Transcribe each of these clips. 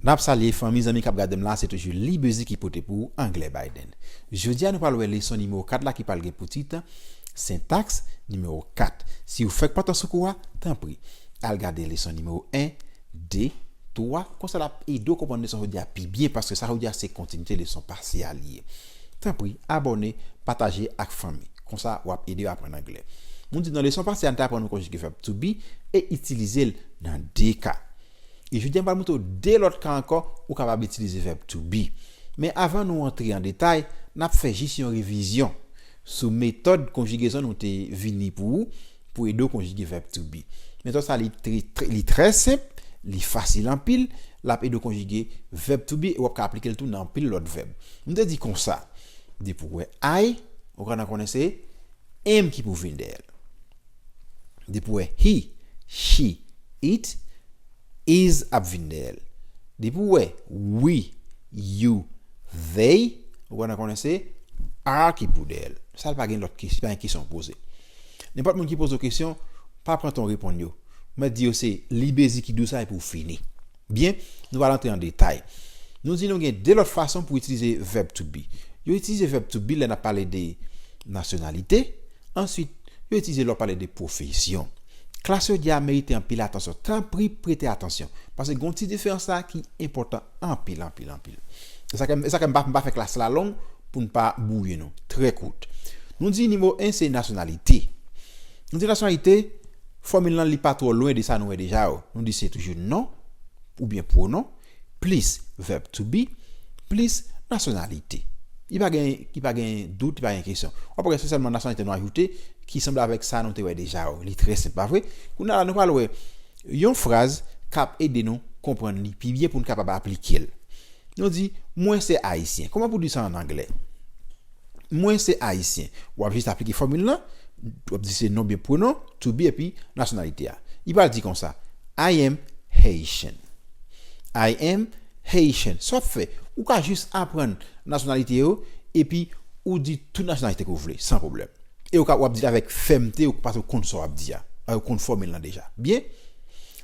Nap salye fanmi zanmi kap gadem la se toujou libezi ki pote pou anglè Biden jodia nou pral wè leson nimewo 4 la ki pral gen pou tit sentaks nimewo 4 siw fèk pantan sou kou a tanpri al gade leson nimewo 1 2 3 konsa lap edew konprann leson jodia pi byen paske sa jodia se kontinite leson pase a li ye. Tanpri abòne, pataje ak fanmi. Konsa w ap ede yo aprann Anglè. Moun di nan leson pase a n te aprann yon konjige vèb to be e itilize l nan de ka. E jodi a m pral montre w de lòt ka ankò ou kapab itilize vèb to be. Men avan nou antre an detay, n ap fè jis yon revizyon sou metòd konjigezon nou te vini pou ou pou ede w konjige vèb to be. Metòd sa li li trè senp, li fasil anpil, l ap ede w konjige vèb to be e w ap ka aplike l tou nan anpil lòt vèb. M te di konsa, depi w wè I, ou gentan konnen se am ki pou vin dèyè l. Depi w wè he, she, it, is ap vin dèyè l. Depi w wè we, you, they, ou gentan konnen se are ki pou dèyè l. Sa l pa gen lòt kesyon, pa gen kesyon poze. Nenpòt moun ki poze w kesyon, pa pran tan w reponn yo. Mèt di yo se libezi ki dous la epi w fini. Byen, nou pral antre an detay. Nou di nou gen de lòt fason pou itilize vèb to be. Yo itilize vèb to be lè n ap pale de nasyonalite. Ansuit, yo itilize lè w pale de pwofesyon. Klas jodi a merite anpil atansyon. Tanpri prete atansyon. Paske gen yon ti diferans la ki enpòtan anpil anpil anpil. E sa kè, e sa kè m pa, m pa fè klas la long pou n pa bwouye nou. Trè kout. Nou di nimewo 1 se nasyonalite. Nou di nasyonalite, fòmil lan li pa twò lwen de sa nou wè deja yo. Nou di se toujou non, oubyen pwonon, plis vèb to be, plis nasyonalite. Li pa gen, li pa gen dout, li pa gen kesyon. W ap wè se sèlman nasyonalite nou ajoute ki sanble avèk sa nou te wè deja yo. Li trè senp, pa vre? Kounye a la nou pral wè. Yon fraz k ap ede nou konprann li pi byen pou n kapab aplike l. Nou di, Mwen se Ayisyen. Kòman pou w di sa ann anglè? Mwen se Ayisyen. W ap jis aplike fòmil lan. W ap di se non byen pwonon, to be, epi nasyonalite a. Li pral di konsa, I am Haitian. I am Haitian. Sa w ap fè, ou ka jis aprann nasyonalite yo epi ou di tout nasyonalite ke w vle san pwoblèm. e ou ka wap dil avèk fèmte ou pase ou konn sa wap di a paske ou konn fòmil lan deja byen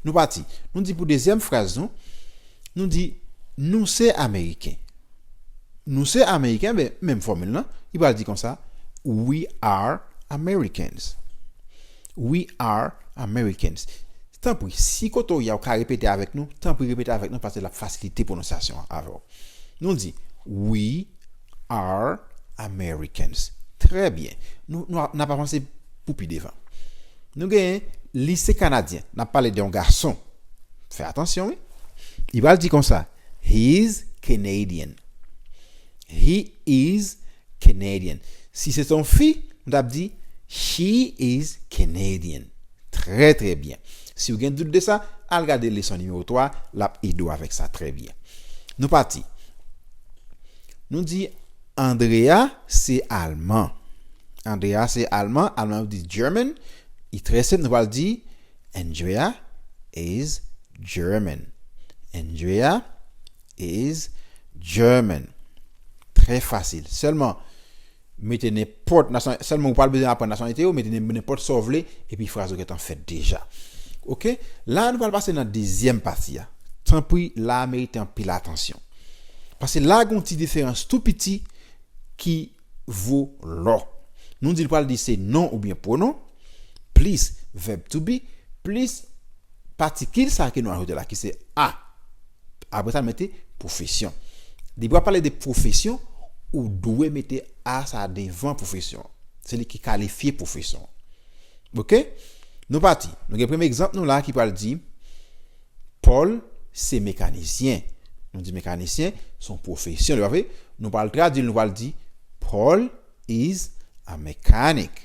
nou pati nou di pou dezyèm fraz nou nou di nou se ameriken nou se ameriken men menm fòmil lan li pral di konsa we are americans we are americans tanpri si kote ou ye a ou ka repete avèk nou tanpri repete avèk nou paske lap fasilite pwononsyasyon an avèw nou di we Are Americans. Trè byen. Nou, nou, n ap avanse pou pi devan. Nou genyen Lise Kanadyen. N ap pale de yon gason. Fè atansyon wi. Li pral di konsa, He is Canadian. He is Canadian. Si se te yon fi, nou t ap di, She is Canadian. Trè, trè byen. Si ou gen dout de sa, al gade leson nimewo 3, l ap ede w avèk sa trè byen. Nou pati. Nou di Andrea se alman. Andrea se alman. Alman yo di German. Li trè senp. Nou pral di Andrea is German. Andrea is German. Trè fasil. Sèlman. Mete nenpòt nasyonalite, sèlman ou pa bezwen aprann nasyonalite yo, mete nenpòt sa w vle epi fraz ou gentan fèt deja. Ok, la a nou pral pase nan dezyèm pati a. Tanpri, la a merite anpil atansyon. Pase la a gen yon ti diferans tou piti ki vo lò. Nou di l pral di se non oubyen pwonon, plis vèb to be, plis patikil sa a ke nou ajoute la ki se a. Apre sa mete pwofesyon. Depi w ap pale de pwofesyon, ou dwe mete a sa devan pwofesyon. Se li ki kalifye pwofesyon. Ok? Nou pati. Nou gen premye egzanp nou la ki pral di Paul se mekanisyen. Nou di mekanisyen se yon pwofesyon li pa vre? Nou pral tradui l nou pral di Paul is a mechanic.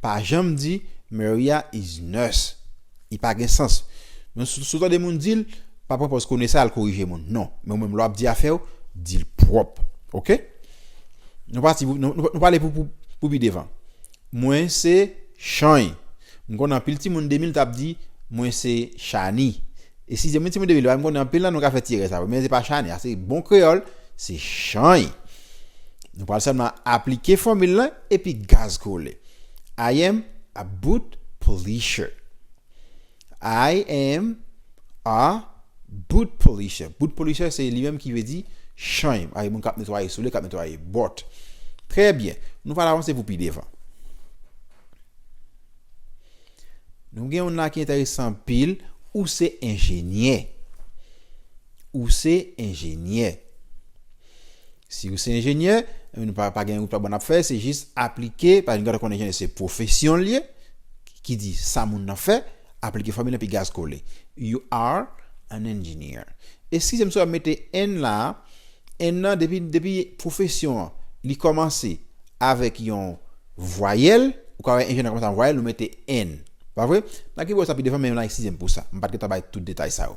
Pa janm di Maria is nurse. Li pa gen sans. Men si w tande moun di l, pa pran pòz kone sa al korije moun. Non. Men ou menm lè w ap di afè w, di l pwòp. Ok? Nou pati pou nou pale pou pi devan. Mwen se Chany. M konnen anpil timoun 2000 t ap di mwen se Chani. E si se moun timoun 2000 yo, m konnen anpil nan nou ka fè ti erè sa yo. Men se pa Chani. Ase bon kreyòl, se Chany. Nou pral sèlman aplike fòmil la. Epi gaz kole. I am a boot polisher. I am a boot polisher. Boot polisher se li menm ki vle di chany. Ake moun k ap netwaye soule, k ap netwaye bòt. Trè byen. Nou pral avanse pou pi devan. Nou gen yon la ki enteresan anpil. Ou se enjenyè. Ou se enjenyè. Siw se enjenyè, pa gen wout pa bon ap fè, se jis aplike, pa gen konnen enjenyè se pwofesyonl ye, ki di sa moun nan fè, aplike fòmil epi gaz kole. You are an engineer. Eskize m si wap mete en la, en nan depi depi pwofesyon an li kòmanse avèk yon vwayèl, ou ka wè enjenyè kòmanse avèk yon vwayèl ou mete en. Pa vre? Nan kibò sa pi devan men la eskize m pou sa. M pat gen tan bay tout detay sa yo.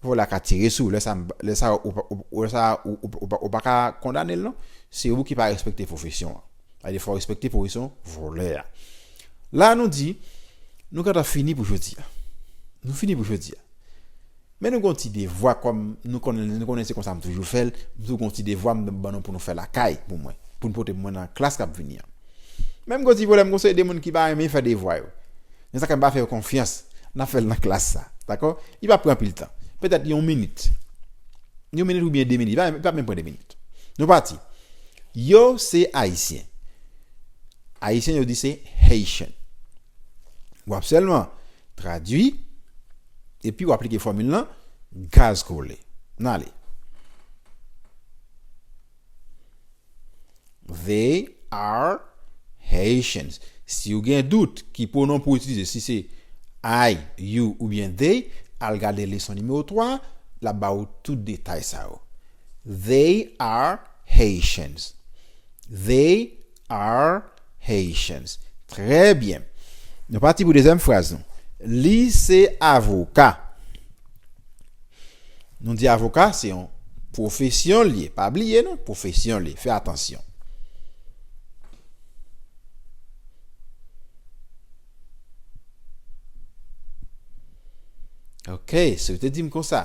Fò la ka tire sou, lè sa lè sa lè sa ou pa ka kondanel non, se ou ki pa respekte pwofesyon an. Sa vle di fò respekte pwofesyon vòlè a. La nou di nou gentan fini pou jodi a. Nou fini pou jodi a. Men nou gon ti devwa kòm nou konnen nou konnen se konsa m toujou fèl, m toujou gon ti devwa m ban nou pou nou fè lakay pou mwen, pou nou pote pou mwen nan klas kap vini an. Men m gon ti pwoblèm gon seri de moun ki pa renmen fè devwa yo. Men sa kèm pa fè yo konfyans, nap fèl nan klas sa. Dakò? Li pap pran anpil tan. Petèt yon minit. Yon minit oubyen 2 minit. Li pap menm pran 2 minit. Nou pati. Yo se Ayisyen. Ayisyen yo di se Haitian. Wap sèlman tradui epi wap aplike fòmil lan gaz ke w vle. Nale. They are Haitians. Si ou gen dout ki pwonon pou itilize, si se I, you oubyen they, al gade leson nimewo 3, l ap ba ou tout detay sa yo. They are Haitians. They Are Haitians. Trè byen. Nou pati pou dezyèm fraz nou. Li se avoka. Nou di avoka se yon pwofesyon li ye. Pa bliye non, pwofesyon li. Fè atansyon. Ok, se ou te di m konsa.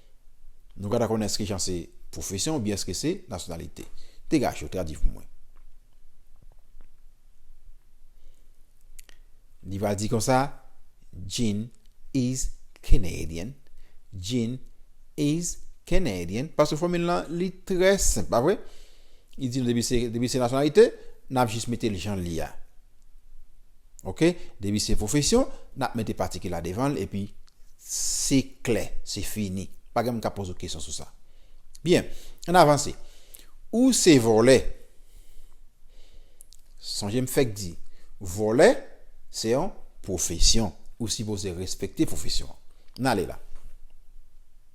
Nou ka ta konnen eske jan se pwofesyon oubyen eske se nasyonalite. Degaj yo, tradi pou mwen. Li va di konsa, Jean is Canadian. Jean is Canadian. Paske fòmil lan li trè senp, pa vre? Li di nou depi se nasyonalite, n ap jis mete l jan l ye a. Ok depi se pwofesyon nap mete patiki la devan l epi se klè se fini pa gen moun kap poze w kesyon sou sa byen ann avanse ou se vòlè sonje m fèk di vòlè se yon pwofesyon ou sipoze respekte pwofesyon an n ale la.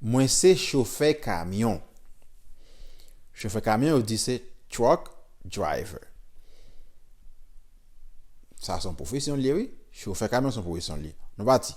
Mwen se chofè kamyon. Chofè kamyon yo di se truck driver. Sa son pwofesyon liye wi. Chofè kamyon son pwofesyon liye. Nou pati.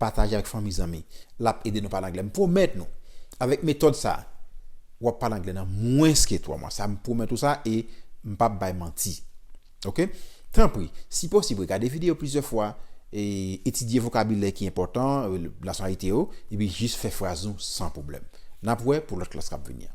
pataje avèk fanmi zanmi lap ede nou pale anglè m pwomèt nou avèk metòd sa wap pale anglè nan mwens ke 3 mwa sa m pwomèt ou sa e m pap bay manti ok tanpri si posib regade videyo plizyè fwa e etidye vokabilè ki enpòtan nasyonalite yo epi jis fè fraz nou san pwoblèm nap wè pou lòt klas kap vini an.